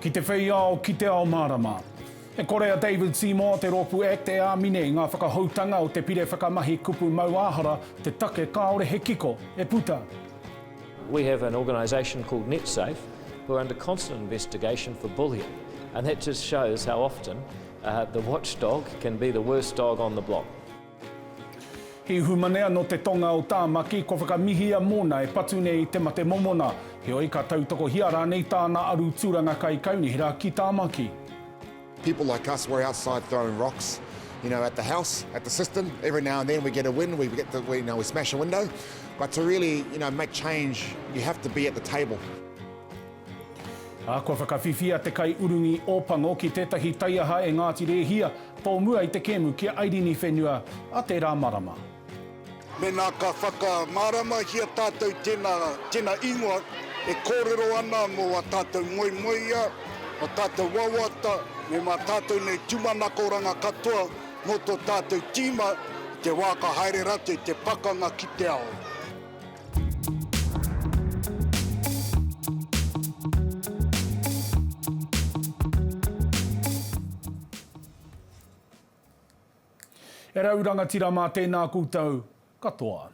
Ki te whei ao, ki te ao mārama. E kore a David Seymour, te rōpū act, e āmine i ngā whakahoutanga o te Pire Whakamahi Kupu Mauāhara, te take kāore he kiko e puta. We have an organisation called NetSafe who are under constant investigation for bullying and that just shows how often the watchdog can be the worst dog on the block. He humanea nō te tonga o Tāmaki, kua whakamihia mōna e patu nei te mate momona. Heoi, ka tautokohia rānei tāna aru tūranga kai Kaunihera ki Tāmaki. People like us were outside throwing rocks you know at the house, at the system, every now and then we get a win, we get the, we, you know, we smash a window, but to really you know, make change you have to be at the table. Ā, kua whakawhiwhia te kaiurungi Ōpango ki tētahi taiaha e Ngāti Rēhia, tōmua i te kēmu ki a Airini whenua a tērā marama. Mēnā ka whakamāramahia tātou tēnā, tēnā ingoa e kōrero ana mō ā tātou moemoeā, ā tātou wawata, me mā tātou nei tumanakoranga katoa mō tō tātou tīma i te wā ka haere rātou i te pakanga ki te ao. E rau rangatira mā tēnā koutou katoa.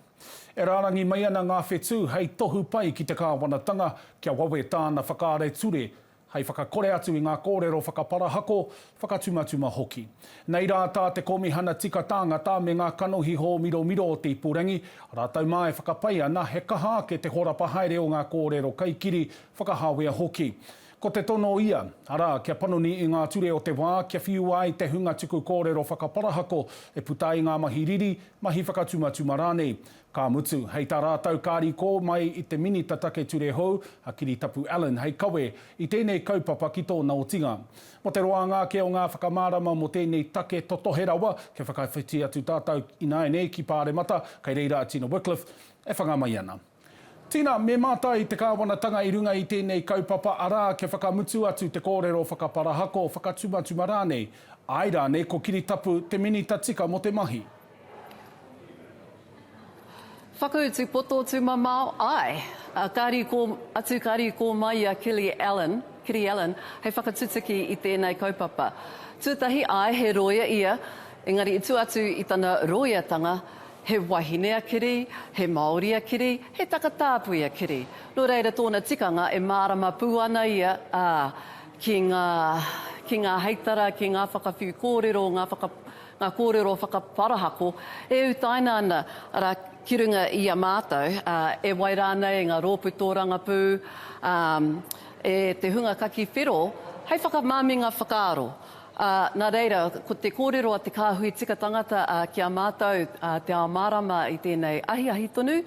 E rārangi mai ana ngā whetū hei tohu pai ki te Kāwanatanga kia wawe tāna whakaare ture hei whakakore atu i ngā kōrero whakaparahako, whakatumatuma hoki. Nei rā tā te Kōmihana Tika Tāngata me ngā kanohi hōmiromiro o te ipurangi, rātou mā e whakapai ana he kaha ake te horapa haere o ngā kōrero kaikiri, whakahāwea hoki. Ko te tono ia, arā, kia panoni i ngā ture o te wā, kia whiua ai te hunga tuku kōrero whakaparahako e puta ai ngā mahi riri, mahi whakatumatuma rānei. Ka mutu, hei tā rātou ka rīkō mai i te Minita Take Ture Hou, a Kiritapu Allan, hei kawe i tēnei kaupapa ki tōna otinga. Mō te roanga ake o ngā whakamārama mō tēnei take totohe rawa, kia whakawhiti atu tātou ināianei ki Pāremata, kei reira a Tina Wickliffe e whanga mai ana. Tina, me mātai te Kāwanatanga i runga i tēnei kaupapa, arā, kia whakamutu atu te kōrero whakaparahako, whakatumatuma rānei. Āe rānei, ko Kiritapu te Minita tika mō te mahi? Whakautu poto tumamao, ae. Ka rīkō atu, ka rīkō mai i a Kili Allen, Kiri Allen, hei whakatutuki i tēnei kaupapa. Tūtahi, ae, he rōia ia, engari i tua atu i tana rōiatanga, he wahine a Kiri, he Māori a Kiri, he takatāpui a Kiri. Nō reira tōna tikanga e mārama pū ana ia, ā, ki ngā, ki ngā heitara, ki ngā whakawhiu kōrero, ngā whaka, ngā kōrero whakaparahako e utaina ana, arā, ki runga i a mātou, ā, e wai rānei e ngā rōpū tōrangapū, ā, e te hunga kaki whero, hei whakamaminga whakaaro. Ā, nā reira, ko te kōrero a te kāhui tika tangata, ā, ki a mātou, ā, te ao mārama i tēnei ahiahi tonu,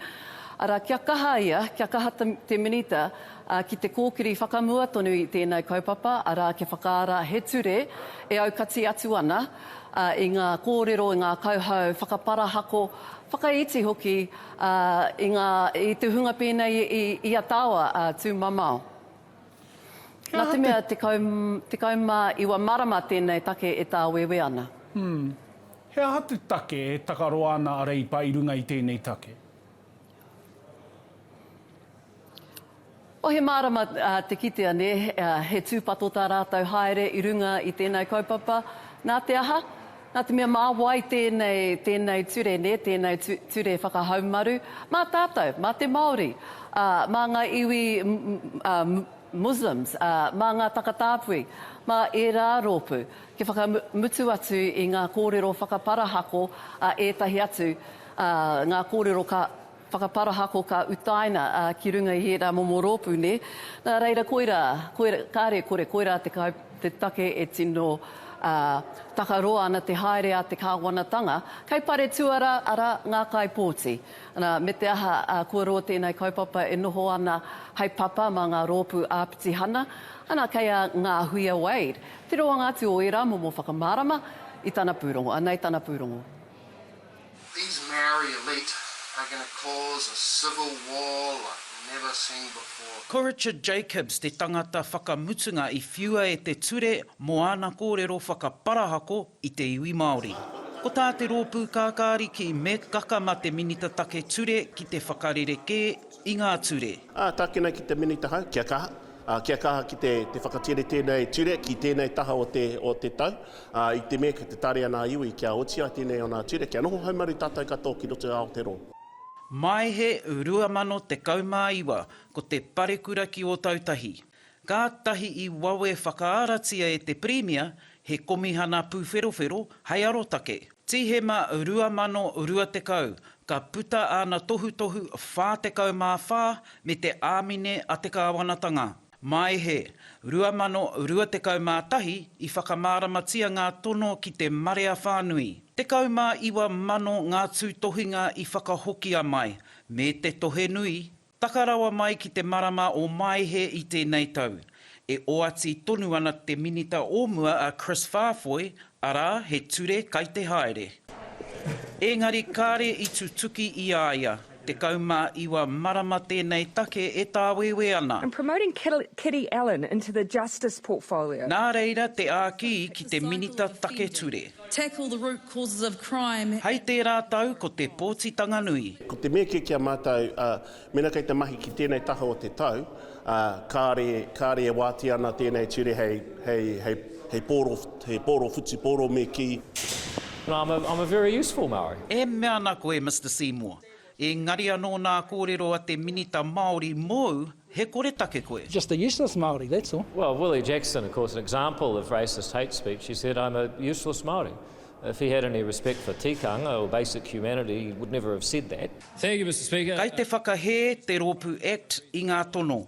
arā, kia kaha ia, kia kaha te Minita, ā, ki te kōkiri whakamua tonu i tēnei kaupapa, arā, kia whakaara he ture e aukati atu ana i ngā kōrero, i ngā kauhau whakaparahako, whakaiti hoki i ngā, i te hunga pēnei i a Tawa, a Tūmamao. Nā te mea, tekau, tekau mā iwa marama tēnei take e tāwēwē ana. Ū. He aha te take e takaroa ana a Reipa i runga i tēnei take? Oh he mārama te kitea nē, he tūpato tā rātou haere i runga i tēnei kaupapa, nā te aha? Nā te mea mā wai tēnei, tēnei ture nē, tēnei ture whakahaumaru? Mā tātou, mā te Māori, ā, mā ngā iwi Muslims, ā, mā ngā takatāpui, mā ērā rōpū, kia whakamutu atu i ngā kōrero whakaparahako a ētahi atu, ā, ngā kōrero ka whakaparahako, ka utaina ki runga i ērā momo rōpū, nē? Nā reira, koirā, koirā, kāre e kore, koirā te kai, te take e tino, ā, takaroa ana te haere a te Kāwanatanga, kei Paretuara, arā, ngā kaipōti. Nā, me te aha, ā, kua roa tēnei kaupapa e noho ana hei papa mā ngā rōpū āpitihana, ana, kei a Ngāhuia Wade te roanga atu o ērā momo whakamārama i tana pūrongo. Anei tana pūrongo. These Maori elite are going to cause a civil war like never seen before. Ko Richard Jacobs te tangata whakamutunga i whiua e te ture mō āna kōrero whakaparahako i te iwi Māori. Ko tā te rōpū kākāriki Meg Gakama te Minita Take Ture ki te whakarerekē i ngā ture. Ā, tākina ki te Minita Hau, kia kaha, ā, kia kaha ki te, te whakatere tēnei ture ki tēnei taha o te, o te tau, ā, i te mea kei te tare ana a iwi kia oti ai tēnei o nā ture, kia noho haumaru tātou katoa ki roto i Aotearoa. Maehe 2019, ko te parekura ki Ōtautahi. Kātahi i wawe whakaaratia e te Pirimia he komihana pūwherowhero hei arotake. Tīhema 2020, ka puta āna tohutohu 44 me te āmine a te kāwanatanga. Maehe, 2021, i whakamāramatia ngā tono ki te marea whānui. 19 mano ngā tūtohinga i whakahokia mai, me te tohe nui Taka rawa mai ki te marama o Maehe i tēnei tau, e oati tonu ana te Minita o mua a Chris Faafoi, arā, he ture kai te haere. Ēngari kāre i tutuki i a ia, 19 marama tēnei take e tāwēwē ana. And promoting Kitty Allen into the Justice portfolio. Nā reira te āki ki te Minita Take Ture. Tackle the root causes of crime. Hei tērā tau ko te pōtitanga nui. Ko te mea kē ki a mātou, mēnā kei te mahi ki tēnei taha o te tau, kāre, kāre e wātea ana tēnei ture hei, hei, hei, hei pōro, hei pōro whutupōro me kī. No, I'm a, I'm a very useful Māori. E mea ana koe, Mister Seymour, Engari anō nā kōrero a te Minita Māori mōu, he koretake koe. Just a useless Māori, that's all. Well, Willie Jackson, of course, an example of racist hate speech. He said, I'm a useless Māori. If he had any respect for tikanga or basic humanity, he would never have said that. Thank you, Mr Speaker. Kei te whakahē te rōpū Act i ngā tono.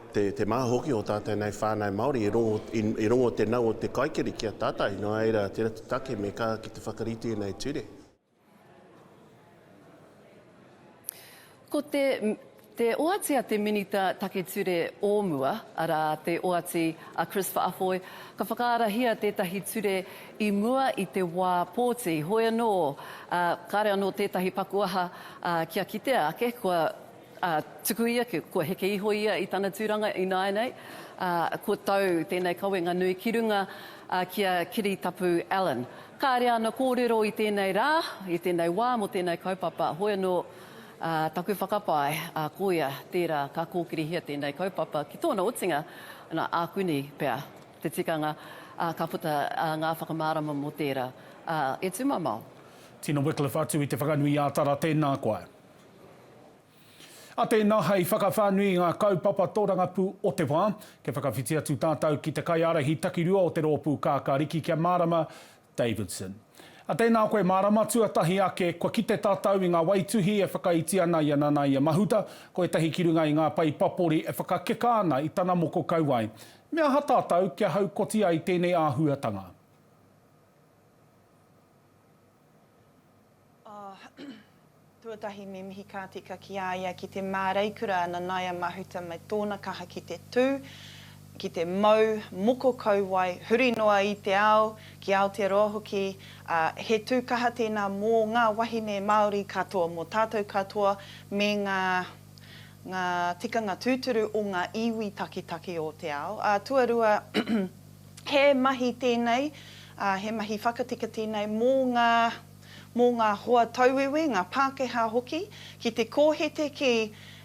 Te, te maha hoki o tātou nei whānau Māori, i rongo, i, i rongo te nau o te kaikiri ki a tātou, nō reira, tērā te take me kā ki te whakarite nei ture. Ko te, te oati a te Minita Take Ture o mua, arā, te oati a Chris Whaafoe, ka whakaarahia tētahi ture i mua i te wā pōti. Hoi anō, uh, kāre anō tētahi paku aha uh, kia kitea ake, kua Ā, tukui ake, kua heke iho ia i tana tūranga ināianei, ā, kua tau tēnei kawenga nui ki runga ki a Kiritapu Allen. Kāre āna kōrero i tēnei rā, i tēnei wā mō tēnei kaupapa, hoi anō taku whakapae, ā, koia tērā ka kōkirihia tēnei kaupapa ki tōna otinga, ana, ākuni pea te tikanga, ā, ka puta ngā whakamārama mō tērā, ā, e tūmamao. Tina Wycliffe atu i te whakanui ā Tara, tēnā koe. A tēnā, hei whakawhānui i ngā kaupapa tōrangapū o te wā, kia whakawhiti atu tātou ki te kaiārahi takirua o te rōpū kākāriki kia mārama, Davidson. A tēnā koe mārama, tuatahi ake, kua kite tātou i ngā waituhi e whakaiti ana i a Nanaia Mahuta, ko ētahi ki runga i ngā pae papori e whakakeka ana i tana moko kauae. Me aha tātou kia haukoti ai tēnei āhuatanga? Tuatahi me mihi ka tika ki a ia ki te māreikura a Nanaia Mahuta me tōna kaha ki te tū, ki te mau, moko kauae, huri noa i te ao, ki Aotearoa hoki, ā, he tū kaha tēnā mō ngā wahine Māori katoa, mō tātou katoa me ngā, ngā tikanga tūturu o ngā iwi taketake o te ao, ā, tuarua, He mahi tēnei, he mahi whakatika tēnei mō ngā, mō ngā hoa tauwiwi, ngā Pākehā hoki, ki te kōhete ki,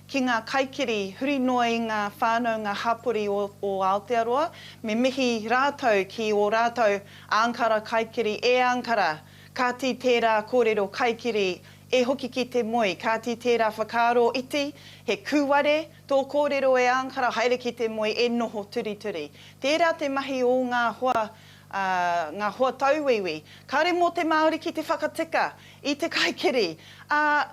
ki ngā kaikiri huri noa i ngā whānau, ngā hapori o, o Aotearoa. Me mihi rātou ki ō rātou ānkara kaikiri, e ānkara, kāti tērā kōrero kaikiri, e hoki ki te moe, kāti tērā whakaaro iti, he kūware, Tō kōrero e Angara haere ki te moe e noho turituri. Tērā te mahi ō ngā hoa, ā, ngā hoa tauwiwi. Kāre mō te Māori ki te whakatika i te kaikiri, ā,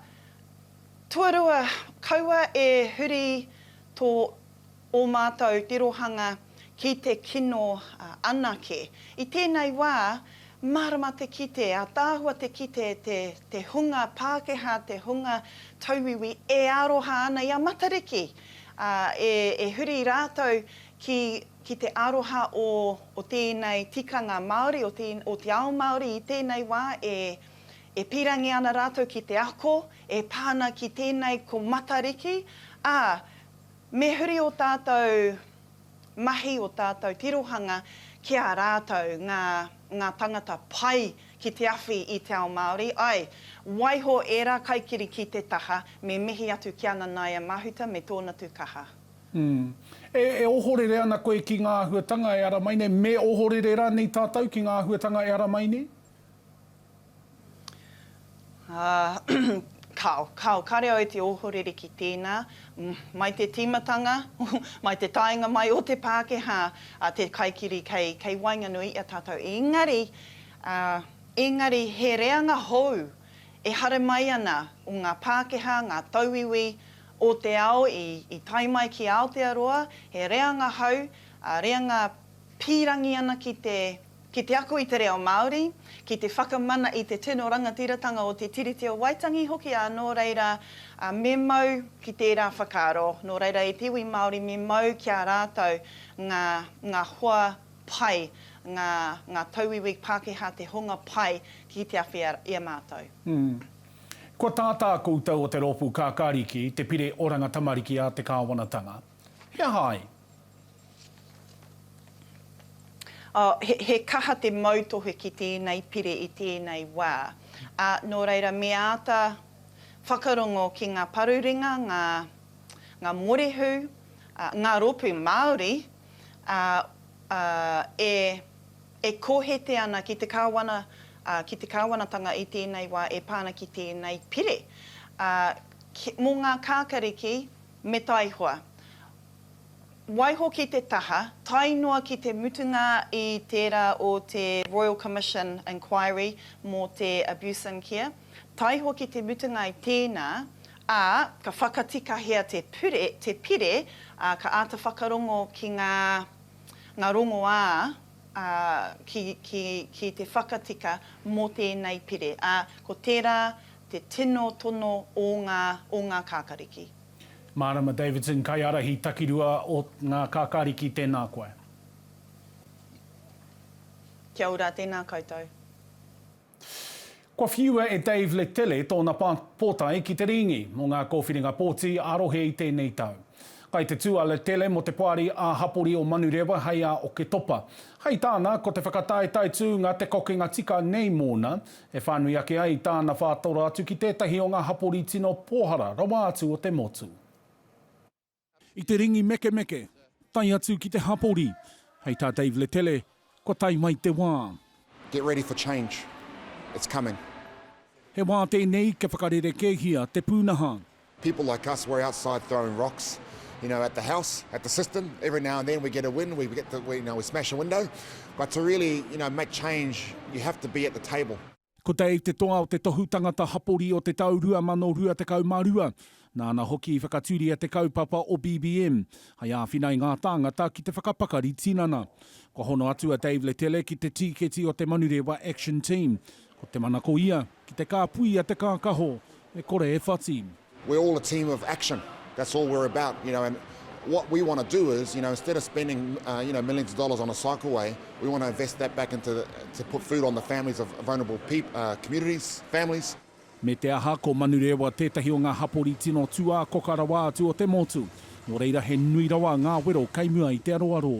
tuarua kaua e huri tō ō mātou tirohanga ki te kino anake. I tēnei wā, Mārama te kite, ataahua te kite te te hunga Pākehā, te hunga tauiwi e aroha ana i a Matariki, ā, e, e huri rātou ki, ki te aroha o, o tēnei tikanga Māori, o te, o te ao Māori i tēnei wā e, e pīrangi ana rātou ki te ako e pā ana ki tēnei ko Matariki, ā, me huri ō tātou. mahi o tātou tirohanga ki a rātou ngā ngā tangata pai ki te awhi i te ao Māori, ae, waiho ērā kaikiri ki te taha, me mihi atu ki a Nanaia Mahuta me tōna tu kaha. Umm. E, e ohorere ana koe ki ngā āhuatanga e ara mai nei, me ohorere rānei tātou ki ngā āhuatanga e ara mai nei? Kao, kao, kare au te ohorere ki tēnā. Mai te tīmatanga, mai te taenga mai o te Pākehā, te kaikiri kei waenganui i a tātou. Engari, engari he reanga hou e hara mai ana o ngā Pākehā, ngā tauiwi o te ao i tae mai ki Aotearoa, he reanga hou, reanga pīrangi ana ki te, ki te ako i te reo Māori, ki te whakamana i te tino rangatiratanga o te Tiriti o Waitangi hoki ā nō reira me mau ki tērā whakaaro, nō reira e te iwi Māori me mau ki a rātou ngā, ngā hoa pai, ngā, ngā tauiwi Pākehā te hunga pai ki te awhi i a mātou. Umm. Kua tātā koutou o te Rōpū Kākāriki, te Pire Oranga Tamariki a te Kāwanatanga. He aha ai? He kaha te mautohe ki tēnei pire i tēnei wā. Nō reira, me āta whakarongo ki ngā parurenga, ngā morehu, ngā rōpū Māori e kohete ana ki te kāwana, ki te kāwanatanga i tēnei wā e pā ana ki tēnei pire mō ngā kākariki me taihoa. Waihoki te taha, tae noa ki te mutunga i tērā o te Royal Commission Inquiry mō te Abuse in Care, tae hoki te mutunga i tēnā, ā, ka whakatikahia te pure, te pire, ā, ka āta whakarongo ki ngā, ngā rongoā, ā, ki, ki, ki te whakatika mō tēnei pire, ā, ko tērā te tino tono o ngā, o ngā kākariki. Marama Davidson Kaiarahi takirua o nga Kakariki tena koe. Kia ora, tēnā koutou. Kua whiua e Dave Letele tōna pōtae ki te Rīngi mō ngā Kōwhiringa Pōti ā-Rohe i tēnei tau. Kai te tū a Letele mō te Poari ā-Hapori o Manurewa hei a Oketopa. Hei tāna, ko te whakataetae tūnga te kokenga tika nei mōna, e whānui ake ai tāna whātora atu ki tētahi o ngā hapori tino pōhara rawa atu o te motu. I te ringi mekemeke, tae atu ki te hapori. Hei tā Dave Letele, Kua tae mai te wā. Get ready for change. It's coming. He wā tēnei kia whakarerekēhia te pūnaha. People like us, we're outside throwing rocks, you know, at the house, at the system. Every now and then we get a win, we get to, we, you know, we smash a window. But to really, you know, make change, you have to be at the table. Ko Dave te toa o te Tohu Tangata Hapori o te tau 2022. Nāna hoki i whakatūria te kaupapa o BBM, hei āwhina i ngā tāngata ki te whakapakari tinana. Kua hono atu a Dave Letele ki te tīketi o te Manurewa Action Team. Ko te manako ia, Ki te kāpui a te kākaho, e kore e whati. We're all a team of action, that's all we're about, you know, and what we want to do is, you know, instead of spending, you know, millions of dollars on a cycleway, we want to invest that back into the, to put food on the families of vulnerable communities, families. Me te aha, ko Manurewa tētahi o ngā hapori tino tūākoka rawa atu o te motu, nō reira he nui rawa ngā wero kei mua i te aroaro.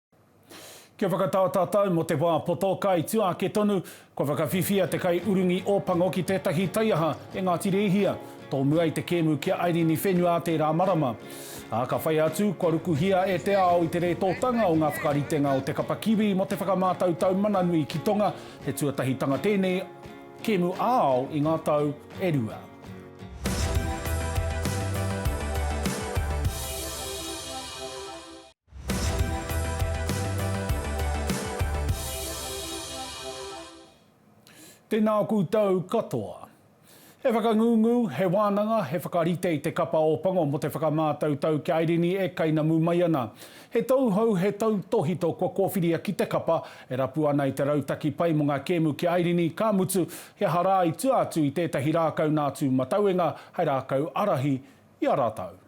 Kia whakatā tātou mō te wā poto, ka i tua ake tonu, kua whakawhiwhia te kaiurungi Ōpango ki tētahi taiaha e Ngāti Rēhia, tōmua i te kēmu ki a Airini Whenua ā tērā marama. Ā, ka whai atu, kua rukuhia e te ao i te rētōtanga o ngā whakaritenga o te kapa kiwi mō te whakamātautau mana nui ki tonga, he tuatahitanga tēnei kēmu ā-ao i ngā tau e rua. Tēnā koutou katoa. He whakangungu, he wānanga, he whakarite i te Kapa o Pango mō te whakamātautau kia airini e kainamu mai ana. He tauhou, he tautōhito kua kōwhiria ki te Kapa e rapu ana i te rautaki pai mō ngā kēmu ki airini, ka mutu, he aha rā i tua atu i tētahi rākau nā tūmatauenga hei rākau ārahi i a rātou.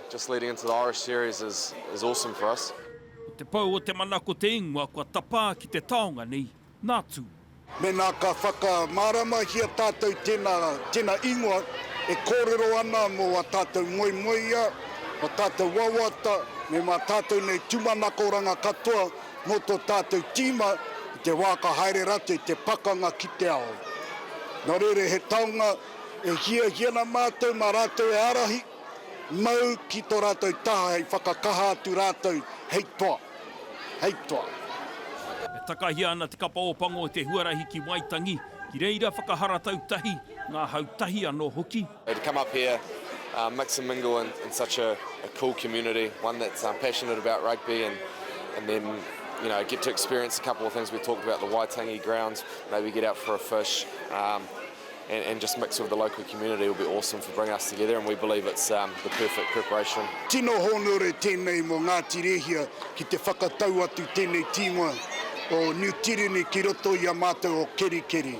Just leading into the Irish series is is awesome for us. Ko te pou o te mana ko te ingoa kua tapā ki te taonga nei, nā Tū. Mēnā ka whakamāramahia tātou tēnā, tēnā ingoa e kōrero ana mō ā tātou moemoeā, ā tātou wawata, me mā tātou nei tūmanakoranga katoa mō tō tātou tīma i te wā ka haere rātou i te pakanga ki te ao. Nō reira he taonga e hiahia ana mātou mā rātou e ārahi. Mau ki tō rātou taha hei whakakaha atu rātou hei toa, hei toa. E takahia ana Te Kapa o Pango te huarahi ki Waitangi, ki reira whakaharatau tahi, ngā hau tahi anō hoki. To come up here, mix and mingle in such a cool community, one that's passionate about rugby and then you know get to experience a couple of things we talked about, the Waitangi grounds, maybe get out for a fish, and, and just mix with the local community will be awesome for bringing us together and we believe it's um, the perfect preparation. Tino hōnore tēnei mō Ngāti Rehia ki te whakatau atu tēnei tīngoa o New Tirini ki roto i a mātou o Kerikeri.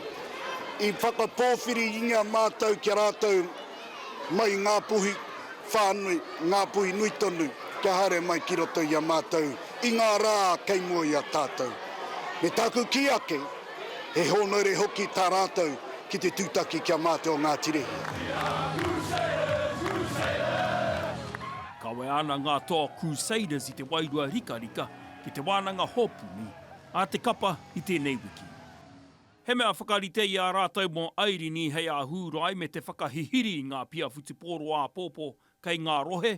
I whakapōwhiri inga mātou kia rātou mai ngā puhi whānui, ngā puhi nui tonu kia haere mai ki roto i a mātou i ngā rā kei mua i a tātou. Me tāku ki ake, He hōnaure hoki tā rātou ki te tūtaki ki a Māte o Ngā Tirihī. Kawea ana ngā toa Crusaders i te wairua rikarika ki te wānanga hōpuni a te kapa i tēnei wiki. He mea whakarite i a rātou mō Airini hei āhūrai me te whakahihiri i ngā pia whutupōro āpōpō kei ngā rohe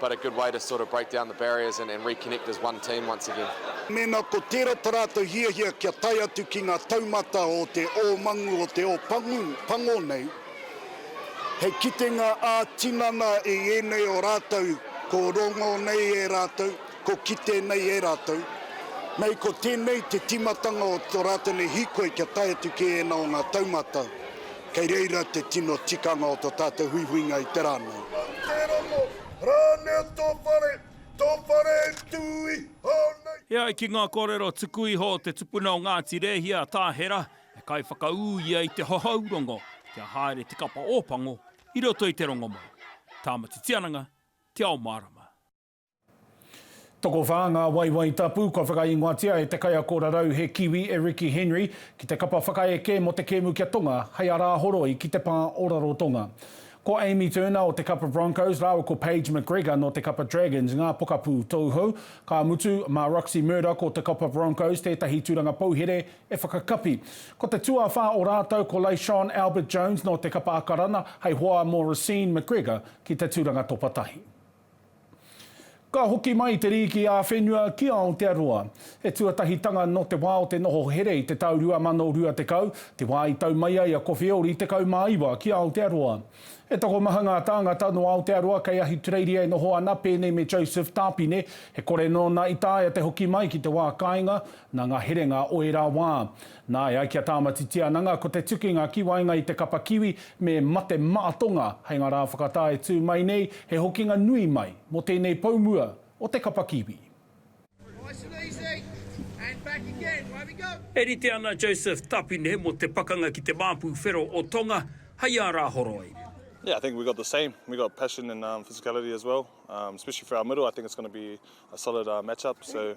But a good way to sort of break down the barriers and and reconnect as one team once again. Mēnā ko tērā tā rātou hiahia kia tae atu ki ngā taumata o te ōmangu o te ōpangu pango nei, hei kitenga ā-tinana i ēnei o rātou ko rongo nei e rātou, ko kite nei e rātou. Nei ko tēnei te tīmatanga o tō rātou nei hīkoi kia tae atu ki ēnā o ngā taumata. Kei reira te tino tikanga o to tatou huihuinga i te ra nei. Mau te rongo, ranea to whare, to whare e tu iho nei. E ai ki ngā kōrero tuku iho o te tupuna o Ngāti Rēhia a Tāhera, he kaiwhakaū ia i te hohou rongo kia haere te kapa Ōpango i roto i te rongomau. Tāmati Tiananga, Te Ao Mārama. Tokowhā ngā waewae tapu kua whakaingoatia e te kaiako rarau he Kiwi e Ricky Henry ki te kapa whakaeke mō te kēmu ki a Tonga hei arāhoroi ki te pā o Rarotonga. Ko Amy Turner o te kapa Broncos rāua ko Paige McGregor nō te kapa Dragons ngā pokapū tauhou, ka mutu, mā Roxy Murdoch o te kapa Broncos tētahi tūranga pouhere e whakakapi. Ko te tuawhā o rātou ko Leyshon Albert-Jones nō te kapa Akarana hei hoa mō Racine McGregor ki te tūranga topa tahi. Ka hoki mai te rīki ā-whenua ki Aotearoa. He tuatahitanga nō te wā o te noho here i te tau 2020, te wā i tau mai ai a Kowheori 19 ki Aotearoa. He tokomaha ngā tāngata nō Aotearoa kei Ahitureiria e noho ana pēnei me Joseph Tāpine, he kore nōna i taea te hoki mai ki te wā kāinga nā ngā herenga o ērā wā. Nā, e ai ki a Tāmati Tiananga, ko te tukinga ki waenga i te kapa kiwi me mate maatonga hei ngā rā whakatā e tū mai nei, he hokinga nui mai mō tēnei pou mua o te kapa kiwi. E rite ana Joseph Tapine mō te pakanga ki te māpu whero o Tonga hei ā rā horoi. Yeah I think we got the same we got passion and physicality as well especially for our middle I think it's going to be a solid match up so.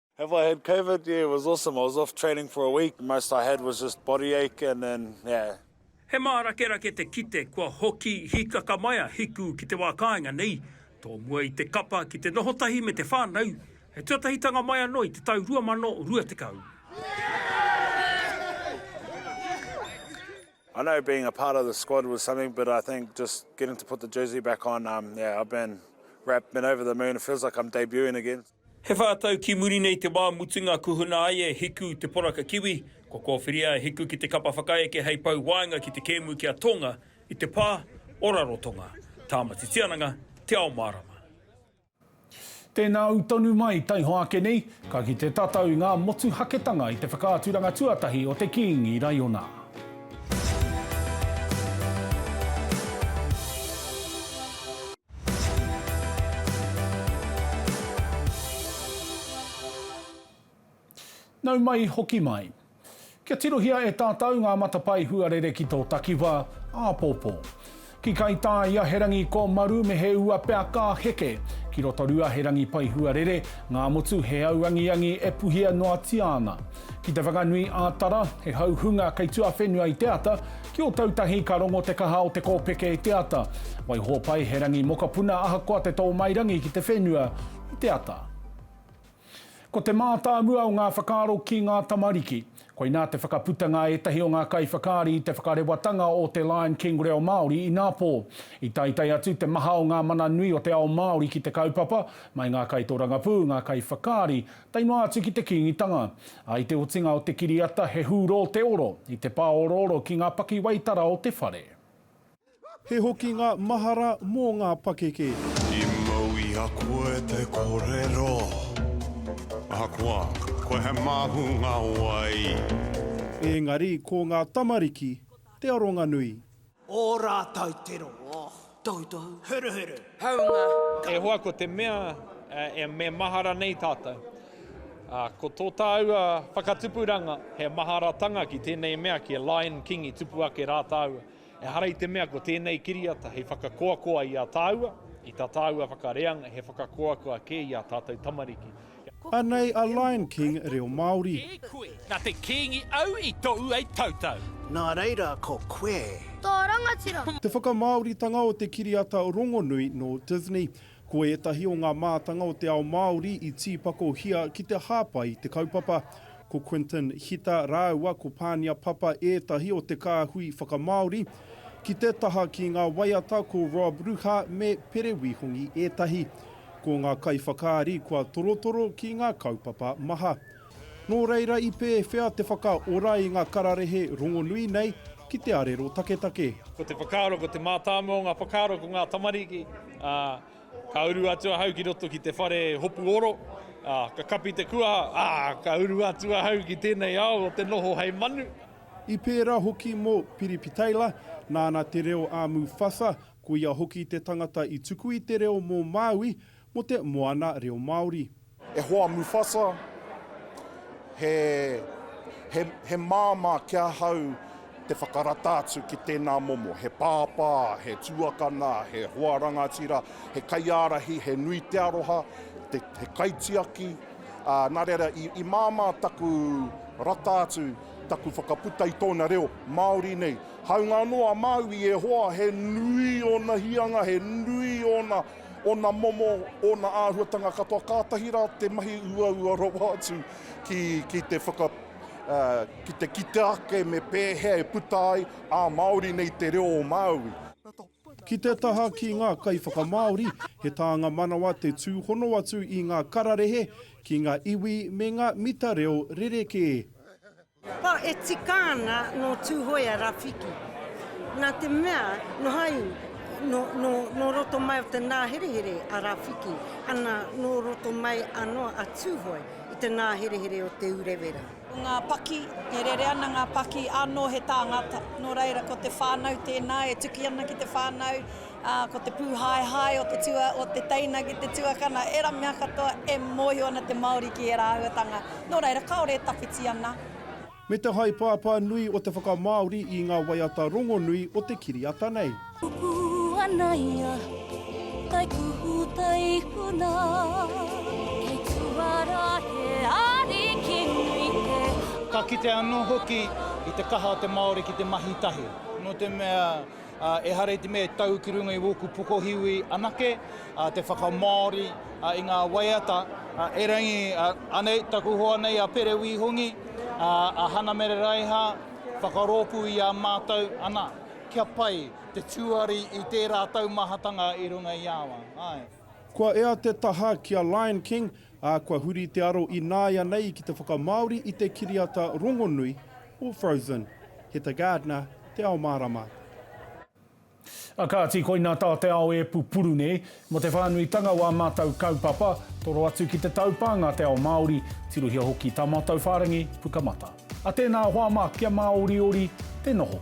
Have I had covid? Yeah, it was awesome. I was off training for a week. Most I had was just body ache and then, yeah. He mārakerake te kite kua hoki hikakamaia hiku ki te wā kāinga nei, tōmua i te kapa ki te noho tahi me te whānau, he tuatahitanga mai anō i te tau 2020. I know being a part of the squad was something, but I think just getting to put the jersey back on, um, yeah, I've been wrapped, been over the moon, it feels like I'm debuting again. He whā tau ki muri nei te wā mutunga kuhuna ai e Hiku te poraka kiwi, kua kōwhiria e Hiku ki te kapa whakaeke hei pou waenga ki te kēmu ki a Tonga i te pā o Rarotonga, Tāmati Tiananga, Te Ao Mārama. Tēnā ū tonu mai, taihoa ake nei, ka kite tātou i ngā motuhaketanga i te whakaaturanga tuatahi o te Kīngi Raiona. Nau mai, hoki mai. Kia tirohia e tātau ngā matapae huarere ki tō takiwā, āpōpō. Ki Kaitā i Aherangi ko Maru me he ua pea ka heke. Ki Rotorua he rangi pai huarere, ngā motu he auangiangi e puhia noatia ana. Ki te whakanui ā-tara, he hauhunga kei tuawhenua i te ata, ki Ōtautahi ka rongo te kaha o te kōpeke i te ata. Waiho pai he rangi mokopuna ahakoa te tō mai rangi ki te whenua i te ata. Ko te mātāmua o ngā whakaaro ki ngā tamariki. Koinā te whakaputanga a ētahi o ngā kaiwhakaari i te whakarewatanga o te Lion King Reo Māori inā pō. I taetae atu te maha o ngā mana nui o te ao Māori ki te kaupapa, mai ngā kaitorangapū, ngā kaiwhakaari, Tae noa atu ki te Kīngitanga. I te otinga o te kiriata he hūrō te oro, i te pāorooro ki ngā pakiwaitara o te whare. He hokinga mahara mō ngā pakeke. I mau i a koe te korero. Ahakoa, koe he māhunga wai. Engari ko ngā tamariki te aronga nui. Ō rātou tero, oh. Toutou. Huruhuru. Haunga. E hoa ko te mea e me mahara nei tātou. Ā, ko tō tāua whakatupuranga he maharatanga ki tēnei mea ki a Lion King i tupu ake rā tāua. Ehara i te mea ko tēnei kiriata hei whakakoakoa i a tāua, i tā tāua whakareanga he whakakoakoa kē i ā tātou tamariki. Anei a Lion King reo Māori. E koe, na te Kingi au i tou ai tautau. Na reira ko koe. To rangatira. Te whakamāoritanga o te kiriata rongonui nō Disney. Ko ētahi o ngā mātanga o te ao Māori i tīpakohia ki te hāpai i te kaupapa. Ko Quinton Hita rāua ko Pānia Papa ētahi o te kāhui whakamāori. Ki te taha ki ngā waiata ko Rob Ruha me Pere Wihongi ētahi. Ko ngā kaiwhakaari kua torotoro ki ngā kaupapa maha. Nō reira i pēwhea te whakaora i ngā kararehe rongonui nei ki te arero taketake? Ko te whakaaro, ko te mātāmua o ngā whakaaro ko ngā tamariki, ā, ka uru atu ahau ki roto ki te whare hopu oro, ā, ka kapi te kuaha, ā, ka uru atu ahau ki tēnei ao o te noho hei manu. I pērā hoki mō Piripitaila, nāna te reo a Mufasa, Ko ia hoki te tangata i tuku i te reo mō Māui mō te Moana Reo Māori. E hoa Mufasa, he, he, he māmā ki ahau te whakarata atu ki tēnā momo. He pāpā, he tuakana, he hoa rangatira, he kaiārahi, he nui te aroha, te, he kaitiaki, ā, nā reira, i, i māmā taku rata atu, taku whakaputa i tōna reo, Māori nei. Hāunga anō a Māui i Iēhova, he nui ōna hīanga, he nui ōna, ōna momo, ōna āhuatanga katoa, kātahi rā te mahi uaua rawa atu ki, ki te whaka, ā, ki te kite ake me pēhea e puta ai ā Māori nei te reo o Māui. Ki te taha ki ngā kaiwhakamāori, he tānga manawa te tūhono atu i ngā kararehe ki ngā iwi me ngā mita reo rerekē. Pā e tika ana nō Tūhoea Rafiki. Nā te mea, nō hau, nō, nō, nō roto mai o te nāherehere a Rafiki, ana, nō roto mai anō a Tūhoe i te nāherehere o Te Urewera. Ko ngā paki, e rere ana ngā paki, anō he tāngata. Nō reira, ko te whānau tēnā e tuki ana ki te whānau, Ā, ko te pūhaehae o te tua, o te teina ki te tuakana, ērā mea katoa e mōhio ana te Māori ki ērā āhuatanga, nō reira, kāore e tawhiti ana. Me te haepāpā nui o te whakamāori i ngā waiata rongonui o te kiriata nei. Pupū ana ia, tae kuhu, tae huna. Kei tuara he ariki nui te ao. Ka kite anō hoki i te kaha o te Māori ki te mahi tahi. Nō te mea, Ehara i te mea e tau ki runga i wōku pokohiwi anake te whakamāori i ngā waiata. Erangi anei taku hoa nei a Pere Wī Hongi, a Hana Mere Raiha, whakarōpū i a mātou, ana, kia pai te tuari i tērā taumahatanga i runga i awa. Kua ea te taha ki a Lion King, ā, kua huri te aro ināianei ki te whakamāori i te kiriata rongonui Or frozen. He te gardener, te ao mārama. A kāti, koina tā te ao e pupuru nei. Mo te whānuitanga o ā mātou kaupapa, toro atu ki te taupānga te ao Māori, tirohia hoki tā mātou whārangi Pukamata. A tēnā hoa mā, kia māoriori te noho.